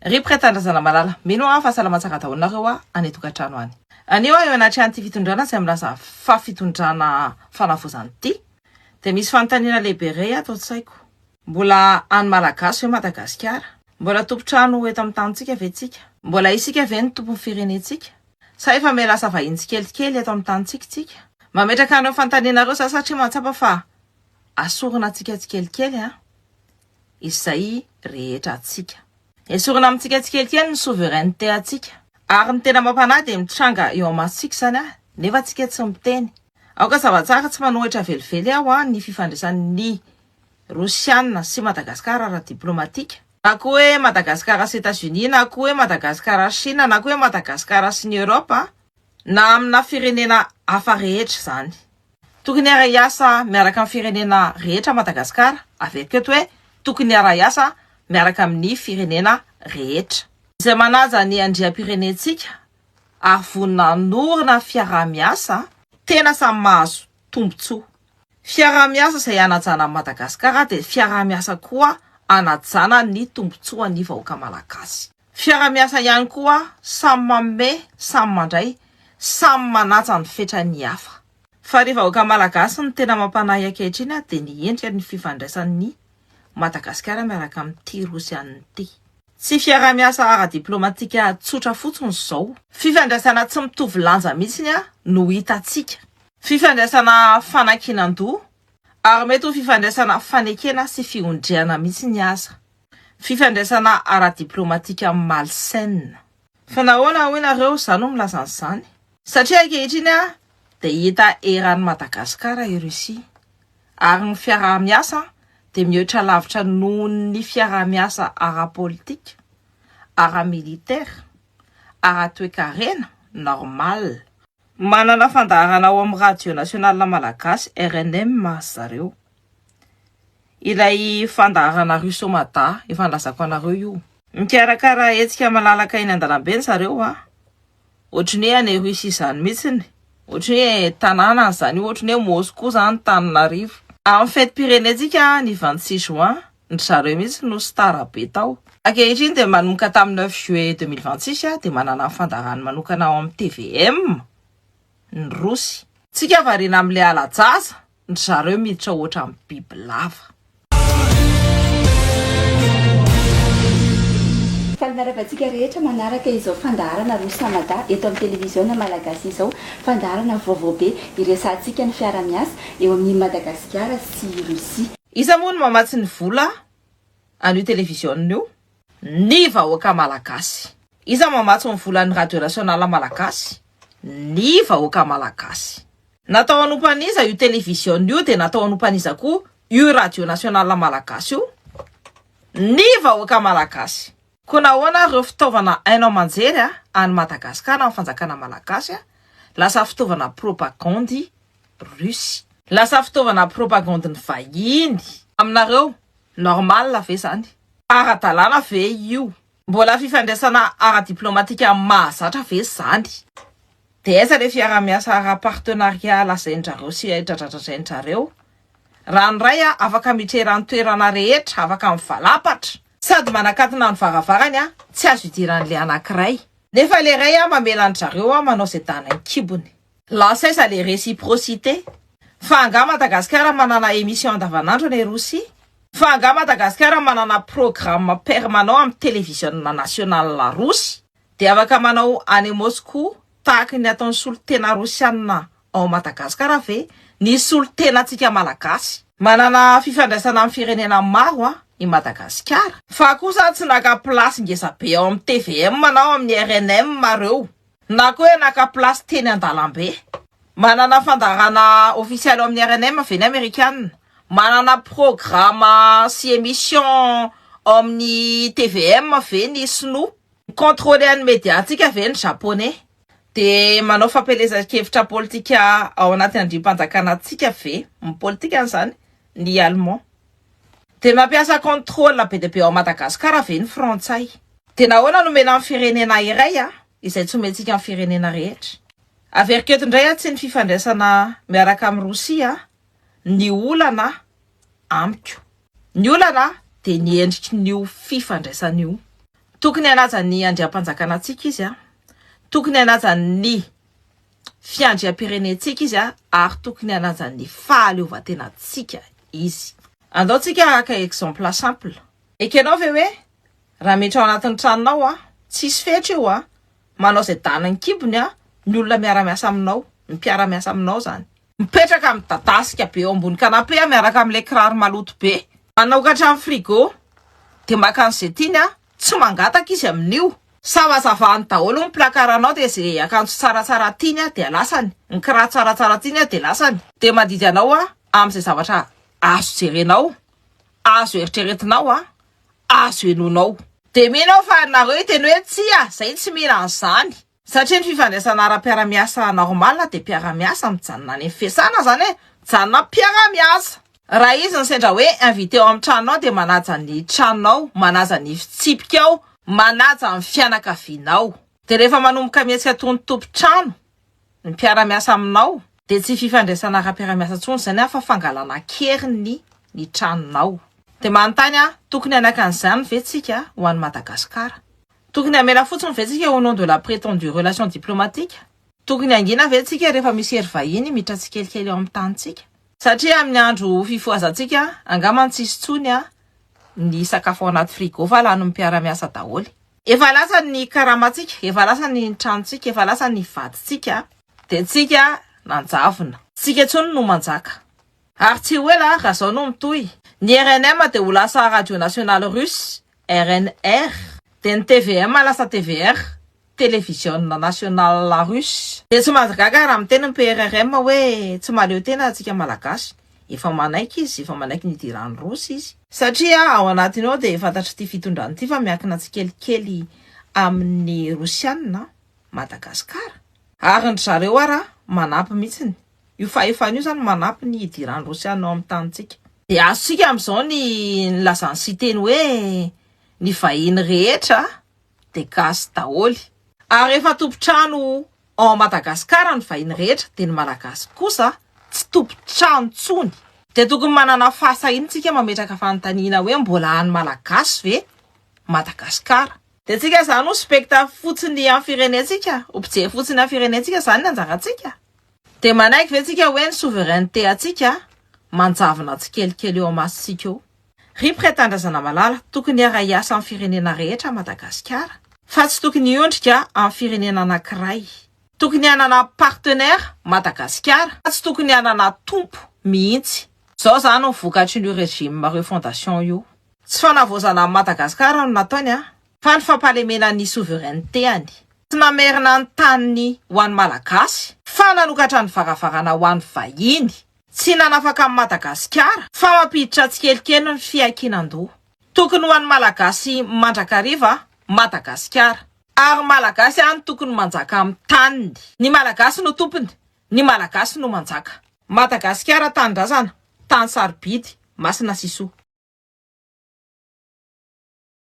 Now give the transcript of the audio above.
Rip Ka Tandrazana Malala. Mino aho fa salama tsara daholo nareo a any tokatrano any. Anio aho eo anatrehan'ity fitondrana izay milaza fa fitondrana fanavaozana ity dia misy fanontaniana lehibe iray ato an-tsaiko. Mbola an'ny Malagasy ve Madagasikara? Mbola tompon-trano eto amin'ny tanintsika ve tsika? Mbola isika ve no tompon'ny firenentsika? Sa efa miha lasa vahiny tsikelikely eto amin'ny tanintsika tsika? Mametraka an'ireo fanontaniana ireo za satria mahatsapa fa asorina antsika tsikelikely an! izay rehetra antsika. Esorina amintsika tsikelikely ny souveraineté antsika. Ary ny tena mampanahy dia mitranga eo amasontsika izany a! nefa tsika tsy miteny. Aoka zava-tsara tsy manohitra velively aho a! ny fifandraisan'ny Rosiana sy Madagascar ara-diplomatika. Na koa hoe Madagascar sy Etats-Unis, na koa hoe Madagascar sy Chine, na koa hoe Madagascar sy ny Europe, na amina firenena hafa rehetra izany. Tokony hiara-hiasa miaraka amin'ny firenena rehetra Madagasikara, averiko eto hoe tokony hiara-hiasa miaraka amin'ny firenena rehetra. Izay manaja ny andriampirenentsika ary vonona hanorina fiaraha-miasa. Tena samy mahazo tombontsoa. Fiaraha-miasa izay hanajana an'i Madagasikara dia fiaraha-miasa koa hanajana ny tombontsoan'ny vahoaka Malagasy. Fiara-miasa ihany koa samy manome samy mandray samy manaja ny fetran'ny hafa. Fa ry vahoaka malagasy ny tena mampanahy ankehitriny dia ny endrika ny fifandraisan'ny Madagasikara miaraka amin'ity Rosiana ity. Tsy fiaraha-miasa ara-diplaomatika tsotra fotsiny izao. Fifandraisana tsy mitovy lanja mihitsy no hitantsika. Fifandraisana fanankinan-doha ary mety ho fifandraisana fanekena sy fihondriana mihitsy aza. Fifandraisana ara-diplaomatika amin'ny malsaine. Fa nahoana hoy nareo za no milaza an'izany? Satria ankehitriny dia hita eran'i Madagasikara i Russie, ary ny fiaraha-miasa dia mihoatra lavitra nohon'ny fiaraha-miasa ara-politika, ara-militaire, ara-toekarena, normal. Manana fandaharana ao amin'ny Radio Nationale Malagasy, rnm, zareo. Ilay fandaharana Russo Mada efa nilazako anareo io. Mikarakara hetsika malalaka eny an-dalambe ny zareo a! Ohatry ny hoe any Russie izany mihitsiny, ohatry ny hoe tanàna any izany io, ohatry ny hoe Moscou izany tanin'arivo. Amin'ny fetim-pirenentsika ny vingt six juin, ndry zareo mihitsy no star be tao. Ankehitriny dia manomboka tamin'ny neuf juillet deux mille vingt six dia manana ny fandaharany manokana ao amin'ny tvm ny Rosy. Tsika variana amin'ilay hala-jaza ny zareo miditra ohatran'ny biby lava. Faly miarahaba antsika rehetra manaraka izao fandaharana Rosa Mada eto amin'ny televiziona Malagasy izao. Fandaharana vaovao be hiresahantsika ny fiarahamiasa eo amin'i Madagasikara sy Russie. Iza moa no mamatsy ny vola an'io televiziona io? ny vahoaka malagasy. Iza mamatsy ny volan'ny radio nationale malagasy? ny vahoaka malagasy. Natao hanompan'iza io television io dia natao hanompan'iza koa io radio nationale malagasy io? ny vahoaka malagasy. Koa nahoana ary ireo fitaovana haino aman-jery any Madagasikara amin'ny fanjakana malagasy lasa fitaovana propagandy Russie. Lasa fitaovana propagandin'ny vahiny. Aminareo Normal ve zany? Ara-dalàna ve io? Mbola fifandraisana ara-diplomatika mahazatra ve zany? Dia aiza le fiarahamiasa ara-partenariat lazain-dRareo sy dradradradrain-dRareo? Raha ny Ray a, afaka mitrera ny toerana rehetra, afaka mivalampatra. Sady manakatona ny varavarany a, tsy azo idiran'le anankiray. Nefa le Ray a, mamela an-dRareo a, manao ze dana an-kibony. Lasa aiza le reciprocité? Fa angaha Madagasikara manana émission andavanandro any Rosia? Fa angaha Madagasikara manana programme permanent amin'ny televisionina nationale Rosy dia afaka manao any Moscou tahaky ny ataon'ny solontena Rosianina ao Madagasikara ve ny solontenantsika Malagasy? Manana fifandraisana amin'ny firenena maro an i Madagasikara fa kosa tsy naka place ngeza be ao amin'ny tvm na ao amin'ny rnm reo Na koa hoe naka place teny an-dalambe. Manana fandaharana ofisialy ao amin'ny rnm ve ny amerikanina? Manana programa sy emission ao amin'ny tvm ve ny sinoa? Mi-controler an'ny media-ntsika ve ny japoney? Dia manao fampielezan-kevitra politika ao anaty andrim-panjakana antsika ve, ny politikany izany, ny allemand? Dia mampiasa contrôle be dia be ao Madagasikara ve ny frantsay? Dia nahoana no omena ny firenena iray izay tsy omentsika ny firenena rehetra? Averiko eto indray atsy ny fifandraisana miaraka amin'i Rosia ny olana amiko. Ny olana dia ny endrikin'io fifandraisana io. Tokony hanaja ny andriampanjakana antsika izy, tokony hanaja ny. fiandriam-pirenentsika izy ary tokony hanaja ny fahaleovantenantsika izy. Andao tsika haka exemple simple. Ekenao ve hoe raha miditra ao anatin'ny tranonao a, tsisy fetra io a, manao izay danin'ny kibony a, ny olona miara-miasa aminao, ny mpiara-miasa aminao izany. Mipetraka midadasika be eo ambony canapé miaraka amin'ilay kiraro maloto be. Manokatra ny frigo dia maka an'izay tiany an! Tsy mangataka izy amin'io. Savazavany daholo ny placard-nao dia izay akanjo tsaratsara tiany an dia lasany, ny kiraro tsaratsara tiany an dia lasany. Dia mandidy anao an amin'izay zavatra azo jerenao, azo eritreretinao an, azo henoinao. Dia mino aho fa nareo hiteny hoe tsia, izay tsy mila an'izany. Satria ny fifandraisana ara-piaramiasa normal dia mpiaramiasa mijanona any amin'ny fiasana izany hoe mijanona mpiaramiasa. Raha izy ny sendra hoe invité ao amin'ny tranonao dia manaja ny tranonao, manaja ny fitsipikao, manaja ny fianakavianao. Dia rehefa manomboka mihetsika toy ny tompon-trano ny mpiaramiasa aminao dia tsy fifandraisana ara-piaramiasa intsony izany an fa fangalana an-keriny ny tranonao. Dia manontany aho, tokony hanakana izany ve tsika ho any Madagasikara? Tokony hamela fotsiny ve tsika au nom de la prétendue relation diplomatique? Tokony hangina ve tsika rehefa misy hery vahiny miditra tsikelikely ao amin'ny tanintsika? Satria amin'ny andro fifohazantsika angamba no tsy hisy intsony ny sakafo ao anaty frigo fa lanin'ny mpiara-miasa daholo. Efa lasa ny karamantsika, efa lasa ny tranontsika, efa lasa ny vadintsika dia tsika nanjavona. Tsika intsony no manjaka. Ary tsy ho ela raha izao no mitohy, ny rnm dia ho lasa radio nationale russe RNR, dia ny tvm lasa tvr, Télévisiona Nationale Russe. Dia tsy mahagaga raha miteny ny PRRM hoe tsy mahaleo tena antsika Malagasy. Efa manaiky izy, efa manaiky ny hidiran'ny Rossy izy. Satria ao anatiny ao dia fantatr'ity fitondrana ity fa miankina tsikelikely amin'ny Rosiana Madagasikara. Ary ny dry zareo ara manampy mihitsiny. Io fahefana io izany manampy ny hidiran'ny Rosiana ao amin'ny tanintsika. Dia azontsika amin'izao ny nilazan'i Siteny hoe, Ny vahiny rehetra dia gasy daholo. Ary efa tompon-trano ao Madagasikara ny vahiny rehetra, dia ny Malagasy kosa tsy tompon-trano intsony. Dia tokony manana fahasahiana isika mametraka fanontaniana hoe mbola an'ny Malagasy ve Madagasikara? Dia antsika izany ho spectacle fotsiny amin'ny firenentsika, ho mpijery fotsiny amin'ny firenentsika izany ny anjarantsika? Dia manaiky ve tsika hoe ny souveraineté antsika manjavona tsikelikely eo amasontsika eo? Ry Mpiretan-drazana malala, tokony hiara-hiasa amin'ny firenena rehetra Madagasikara, fa tsy tokony hiondrika amin'ny firenena anankiray. Tokony hanana partenaire Madagasikara, fa tsy tokony hanana tompo mihitsy. Izao izany no vokatrin'io régime refondation io. Tsy fanavaozana an'i Madagasikara no nataony an! fa ny fampahalemena ny souveraineté-any. Tsy namerina ny taniny ho an'ny Malagasy, fa nanokatra ny varavarana ho an'ny vahiny. Tsy nanafaka an'i Madagasikara, fa mampiditra tsikelikely ny fiankinan-doha. Tokony ho an'ny Malagasy mandrakariva Madagasikara. Ary Malagasy ihany tokony manjaka amin'ny taniny. Ny Malagasy no tompony, ny Malagasy no manjaka. Madagasikara tanindrazana, tany sarobidy, masina sy soa.